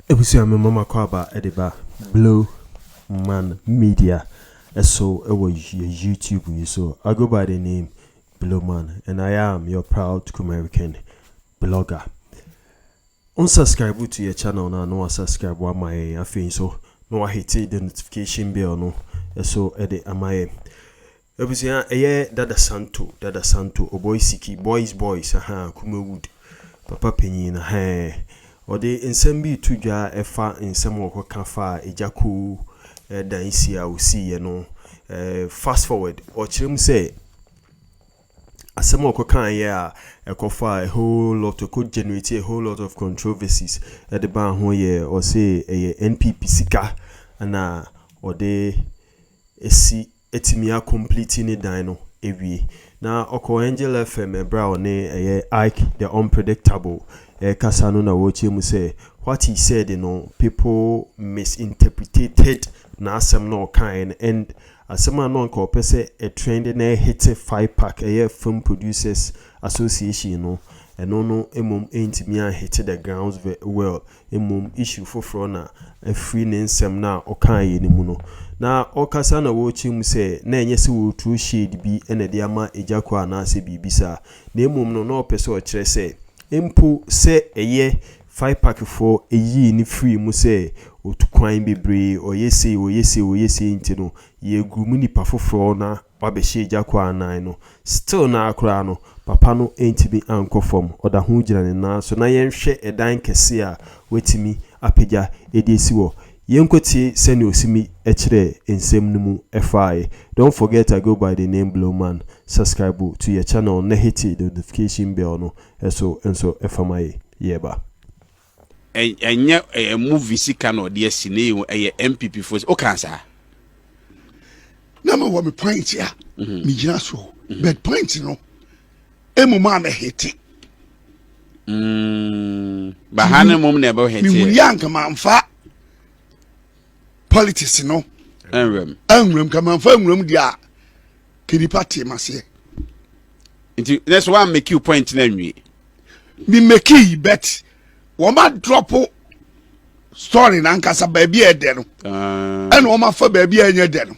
Abusua mema mo akwaaba de ba Blue Man Media so wɔ YouTube yi so. I go by the name Blue Man and I am your proud Kumerican blogger. On subscribe to your channel na no subscribe wa my afei so no hit the notification bell no so de amaye. Abusua ɛyɛ dada santo dada santo ɔbɔi siki boys boys ahaa kuma wood papa panyin no hɛɛ ɔde nsɛm bi reto dwa ɛfa nsɛm ɔkɔ ka faa agya koo dan si a ɔsii yɛ no fast forward ɔkyerɛ mu sɛ asɛm a ɔkɔ kaa yɛ a ɛkɔ faa a whole lot ɛkɔ generate a whole lot of controversies ɛde baa ho yɛ ɔse ɛyɛ NPP sika na ɔde si atumi a complete ne dan no awie. Na ɔkɔɔ Angel FM ɛberɛ a ɔne ɛyɛ Ike the Unpredictable ɛrekasa no na ɔrekyerɛ mu sɛ what he said no people misinterpretated n'asɛm na ɔkaeɛ no and asɛm a na anka ɔpɛ sɛ ɛ trend na ɛhete FIPAC ɛyɛ Film Producers Association no ɛno no mmom antumi anhete the grounds well Mmom issue foforɔ na afiri ne nsɛm no a ɔkaeɛ no mu no. Na ɔkasa na ɔrekyerɛ mu sɛ na ɛnyɛ sɛ ɔreturo shade bi na ɛde ama Agya Quah anaasɛ biribi saa. Na mmom no na ɔpɛ sɛ ɔkyerɛ sɛ mpo sɛ ɛyɛ Faipakifoɔ yii no firii mu sɛ ɔtu kwan bebree, ɔyɛ sei, ɔyɛ sei, ɔyɛ sei nti no, yɛregroom nnipa foforɔ na Wabɛhyɛ gya kɔ anan no still no ara koraa no papa no ntumi ankɔ fam ɔda ho gyina ne nan so na yɛnhwɛ ɛdan kɛseɛ a watumi apagya de asi hɔ yɛnkɔ tie sɛnea ɔsimi kyerɛɛ nsɛm no mu faaɛ don't forget I go by the name Blowman subscribe to yɛ channel na hiti the notification bell no so nso fa ma yɛ yɛɛba. Ɛnyɛ ɛyɛ movie sika na ɔde asi na ɛyɛ ɛyɛ NPP fo o kan saa. Na ma wɔ me point a mhm. me gyina so mhm. but point no emu maa me hete. Mm. Baha ne mom na ɛbɛ hete. Me wuli anka manfa politics no. Ɛnwɛm. Ɛnwɛm ka manfa ɛnwɛm di a kenipa te ma seɛ. Nti ne so wa make you point na nwie. me meki yi bet wɔn a drɔpo story nankasa baabi a ɛdɛ no ah. ɛna wɔn afa baabi a ɛnyɛ dɛ no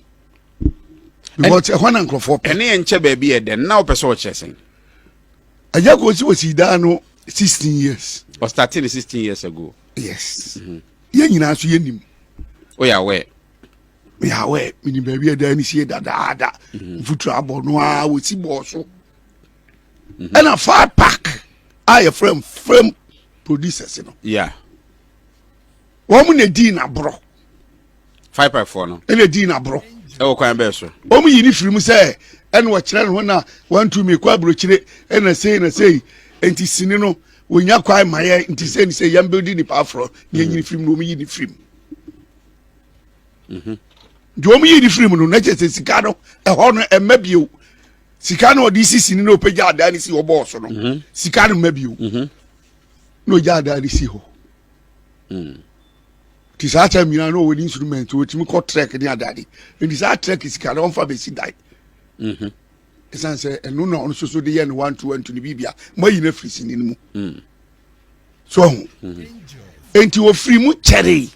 because ɛhɔ na nkurɔfoɔ pɛ ɛne yɛn nkyɛ baabi a ɛdɛ no na wɔpɛ sɛ ɔkyerɛ sɛn ɛyɛ kò si wɔ si daa no sixteen years ɔstarting sixteen years ago yes mm-hmm. yɛn nyinaa nso yɛn nim o yà wɛ yà wɛ mini baabi a ɛdɛ ni sie dadaada mm-hmm. nfutu abɔ no a wɔsi bɔɔ so. mhm. ɛna far park a yɛfrɛ m film producers no wɔn na di na borɔ far park foɔ no ɛna di na borɔ ɛwɔ kwan bɛɛ so wɔn yi ne firi mu sɛ ɛna wɔkyerɛ ne ho na wɔntumi kɔ aburokyire ɛna sei na sei nti sini no wɔnya kwan ma yɛ nti sɛ ne sɛ yɛn bɛ di nipa aforɔ ne yɛnyini firi mu na wɔn yi ne firi mu mhm. deɛ wɔn yi ne firi mu no na kyerɛ sɛ sika no ɛhɔ no ɛmɛ bio sika na ɔde si sini na ɔpɛgya adaa ne si hɔ bɔɔ so no mhm. sika no mma bio mhm. na ɔgya adaa ne si hɔ mm. nti saa kyɛ mmiena na ɔwɔ ne instrument ɔtumi kɔ trek ne adade nti saa trek sika na ɔmfa bɛsi dan mhm. ɛsiane sɛ ɛno na ɔno soso de yɛ no wanto wanto ne biribia moayi no afiri sini no mu mm. so ahu enti ɔfiri mu kyɛree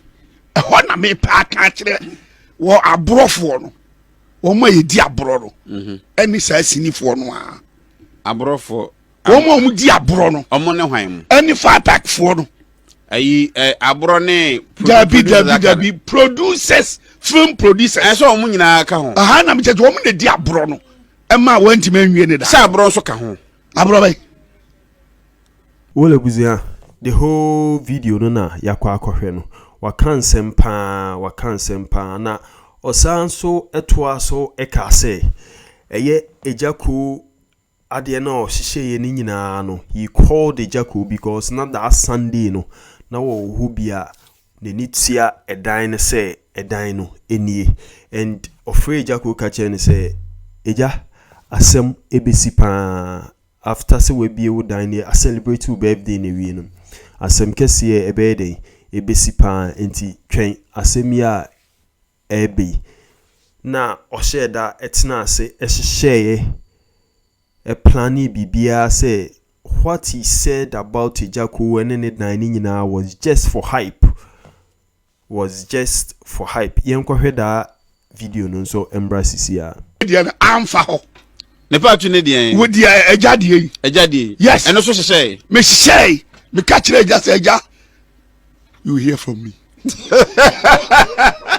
ɛhɔ na mepɛ aka akyerɛ wɔ aborɔfoɔ no wɔn a yɛdi aborɔ no mhm. ɛne saa sinifoɔ no a aborɔfoɔ wɔn a wɔn di aborɔ no wɔn ne hwan mu ɛne fatakfoɔ no ayi ɛ aborɔ ne dabi dabi dabi producers film producers ɛsɛ wɔn nyinaa ka ho aha na mi kyɛ wɔn na di aborɔ no ɛma wɔn ntoma nwie ne da sɛ aborɔ nso ka ho aborɔ bɛyi. Well abusua, the whole video no na yɛakɔ akɔhwɛ no. Waka nsɛm paa, waka nsɛm paa. Na ɔsan nso toa so kaa sɛ, ɛyɛ Agya Koo adeɛ no a ɔhyehyɛeɛ no nyinaa no, he called Agya Koo because na that Sunday no, na wɔwɔ hɔ bi a n'ani tua ɛdan no sɛ ɛdan no nie. And ɔfrɛɛ Agya Koo ka kyerɛɛ no sɛ, Agya, asɛm bɛsi paa. After sɛ w'abie wo dan ne a celebrate wo birthday no awie no asɛm kɛseɛ ɛbɛyɛ dɛn? Ɛbɛsi paa nti twɛn asɛm yi a ɛreba yi. Na ɔhyɛɛ da tenaa ase hyehyɛeɛ planee biribiara sɛ what he said about Agya Koo ne ne dan no nyinaa was just for hype Was just for hype yɛnkɔhwɛ daa video no nso mbra sisiaa. Me deɛ no amfa hɔ. Ne part ne deɛn. Wo deɛ agya deɛ yi. Agya deɛ yi. Yes. Ɛno so hyehyɛe. Me hyehyɛe. Me ka kyerɛ agya sɛ agya you hear from me.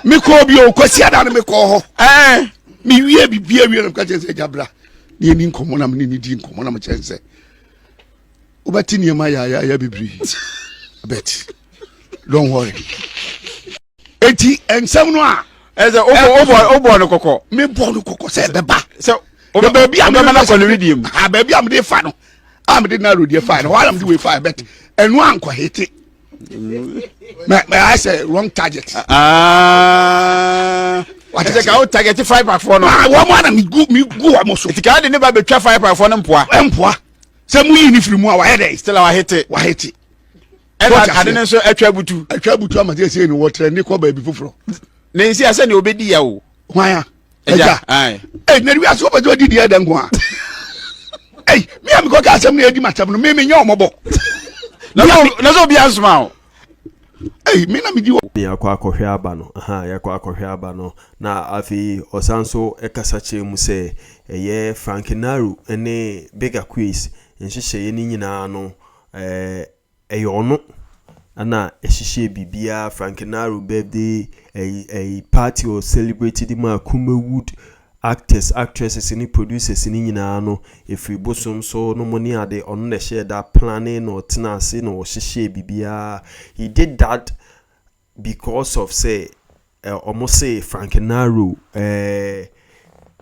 me kɔɔ bi o kwasi ada no me kɔɔ hɔ. Ɛɛ. Eh. Me wie bi bia wie na me ka kyerɛ sɛ agya bra. Ne yɛni nkɔmmɔ na me ne ne di nkɔmmɔ na me kyerɛ sɛ wobɛte nneɛma yaayaaya bebree. Bɛte. don't worry eti nsɛm no a. ɛsɛ o bɔ o bɔ o bɔ no kɔkɔ. mi bɔ no kɔkɔ sɛ ɛbɛ ba. sɛ o bɛ baabi a mi bɛ fɛ sɛ di mu. a baabi a mi de fa no a mi de na lodi fa no wàhálà mi de wei fa bɛ ti ɛnu à nkɔ hete mɛ mɛ ayɛ sɛ wrong target. wàtí sɛ k'aw target five pack fɔ no. aa wɔn mu ana mi gu mi gu wɔn mu so. ètí k'aw de ne ba bɛ twa five pack fɔ ne mpoa. ɛ mpoa sɛ mu yi ni firi mu a wàyɛ dɛ. still a wà hete. wà hete. ɛna ade no nso atwa butu atwa butu ama sɛ sei no wɔtrɛ ne kɔ baabi foforɔ na nsi a sɛdeɛ ɔbɛdi ya o hwan a agya ɛi na wiase wopɛ sɛ ɔdi deɛ da nko a ɛi me a mekɔka asɛm no ɛdi makyɛm no me menyɛ ɔmɔbɔ na sɛ obia nsoma o Hey, me na medi wɔ. yɛakɔ akɔhwɛ aba no aha yɛakɔ akɔhwɛ aba no na afei ɔsan so kasa kyerɛ mu sɛ ɛyɛ frank naru ne big aquis nhyehyɛeɛ no nyinaa no Ɛɛ, ɛyɛ ɔno na ɛhyehyɛɛ biribiara, Frankenaro birthday, ɛyi, ɛyi, party ɔ celebrate de maa Kumawood actors, actresses ne producers no nyinaa no, ɛfiri bosom so no mo ne ade, ɔno na ɛhyɛɛ da plannee na ɔtenaa ase na ɔhyehyɛɛ biribiara, he did that. Because of sɛ eh ɔmo se Frank Naro eh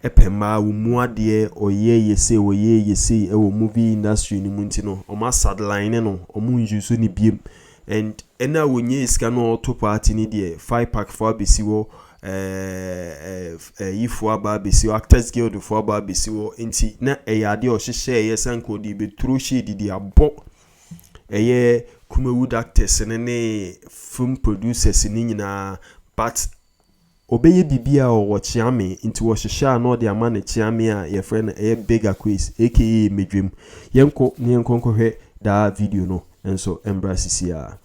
pɛ mmaa, wo mu adeɛ ɔyɛ yɛ sei ɔyɛ yɛ sei wɔ movie industry no mu nti no ɔmo a sadline no ɔmo nuse no biem and ɛna a ɔnyae sika na ɔɔto party no deɛ Faipak foɔ abɛsi hɔ eh eh yi foɔ aba abɛsi hɔ actors guild foɔ aba abɛsi hɔ nti na ɛyɛ adeɛ a ɔhyehyɛɛyɛ sɛ anka ɔde bɛturo shade de abɔ ɛyɛ Kumawood actors no ne film producers no nyinaa but ɔbɛyɛ biribi a ɔwɔ kyeame nti wɔhyehyɛ a na ɔde ama no kyeame a yɛfrɛ no ɛyɛ Big Akwes aka Medwam. Yɛnkɔ na yɛnkɔ nkɔhwɛ daa video no nso mbra sisiaa.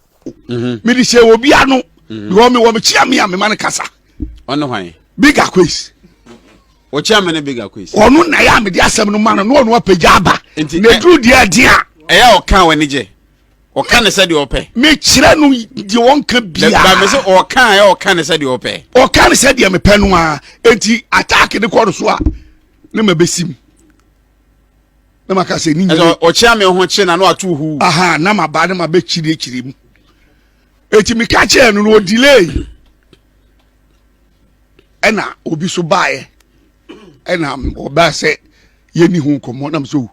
mhm. mede hyɛ wɔ bi ano mhm. because mewɔ mekyea me a mema no kasa ɔne hwan big aquas wɔkyea me ne big aquas ɔno na yɛ a mede asɛm no ma no na ɔno apagya aba na ɛduru deɛ aden a ɛyɛ ɔka w'ani gye ɔka ne sɛ deɛ ɔpɛ mekyerɛ no deɛ wɔnka biaa me sɛ ɔka ɛ ɔka ne sɛ deɛ ɔpɛ ɔka ne sɛ deɛ mepɛ no a enti attack ne kɔ no so a ne mabɛsim na maka sɛ ne nyina ɔkyea me ho kye na no ato hu aha na maba na mabɛkyiri akyiri mu ɛti meka kyɛɛ no no ɔdilei ɛna obi so baeɛ ɛna ɔbaa sɛ yɛni ho nkɔmmɔ nam sɛ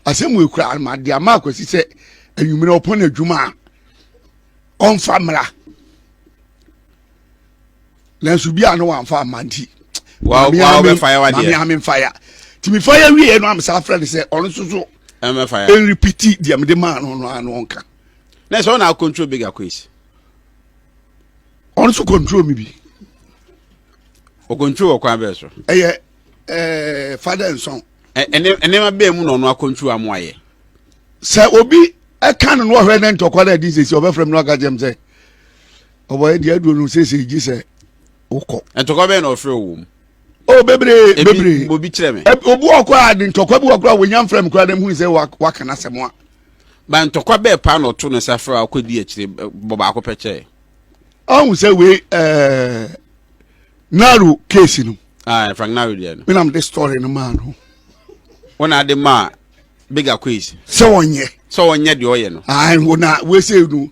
asɛm wɔ kura made ama akwasi sɛ anwummerɛ ɔpɔn adwuma a ɔmfa mmra nanso bi a no wamfa amma nti maame ame mfa ya nti mefa ya wieɛ no amesa afrɛ no sɛ ɔno nso so ɛnrepiti deɛ mede maa no no ano ɔnka na ɛsɛ ɔna acontrol big akois ɔno so control me bi ɔcontrol ɔkwan bɛɛ so ɛyɛ ɛɛ fada nsɔn nneɛma bɛɛ mu na ɔno acontrol amu ayɛ sɛ obi ɛka no no ɔhwɛ ne ntɔkwa no adi sɛsi ɔbɛfrɛ me no aka kyɛm sɛ ɔbɔ ɛdi aduro no sese gye sɛ wokɔ. ntɔkwa bɛyɛ na ɔfrɛ wɔ mu. o bebree bebree ebi obi kyerɛ mi. obi wɔ kɔ a ntɔkwa bi wɔ kɔ a wɔnya nfrɛ mi kura dɛm hu sɛ waka n'asɛm a. ba ntɔkwa bɛɛ paa na ɔto ne safra a ɔkɔ di akyire bɔ baako pɛ kyɛ. ɔhun sɛ wei ɛɛ naro keesi no. aa frank naro deɛ no. mi na mi de story no maa no. wɔn na adi maa. bigger quiz. sɛ ɔnyɛ. sɛ ɔnyɛ deɛ ɔyɛ no. ayi wo na wese no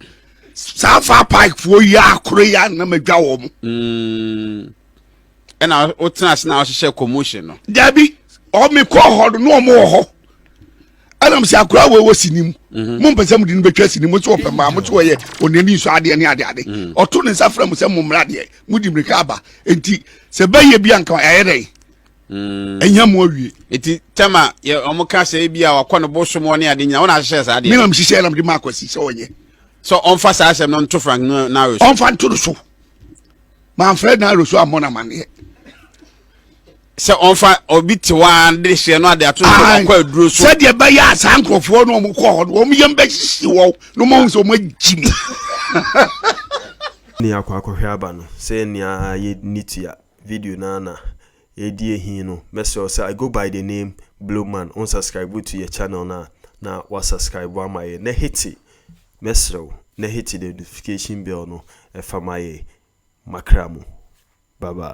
saa fa pipe fo yi akoro yi anam adwa wɔn. Mm. ɛna wotena ase na wɔhyehyɛ commotion no. dabi ɔmi kɔ hɔ no na wɔn wɔ hɔ ɛnam sɛ akora wɔ wɔ sini mu mhm. mo mpɛ sɛ mo de no bɛtwa sini mo nso ɔpɛ maa mo nso ɔyɛ ɔne ani nso adeɛ ne adeɛ ade mhm. ɔto ne nsa fira mo sɛ mo mmra deɛ mo di mirika aba nti sɛ bɛyɛ bi anka ɛyɛ dɛ. Mm. ɛnya mu awie nti tɛma yɛ ɔmo ka sɛ ebi a wakɔ no bosom ɔne ade nyina wɔn ahyehyɛ saa deɛ mi na mi hyehyɛ ɛna mi de ma akwasi sɛ ɔnyɛ so ɔnfa saa asɛm no nto frank no n'aro so ɔnfa nto no so maa nfrɛ n'aro so amɔ n'amaneɛ sɛ ɔnfa obi te hɔ a de hyɛ no ade ato so ɔkɔ aduro so sɛdeɛ bɛyɛ a saa nkurɔfoɔ no ɔmo kɔ hɔ no ɔmo yɛm bɛhyehye wɔ no ɔmo ahu sɛ ɔmo agyi mu ne akɔ akɔhwɛ aba no sɛ nea yɛ ne tua video no ara na ɛredi ahi no, mɛsrɛ wo sɛ I go by the name Blue Man, wo nsubscribe to yɛ channel no a na woasubscribe ama yɛn na hete, mɛsrɛ wo, na hete the notification bell no ɛfa ma yɛn makra mu. Bye bye.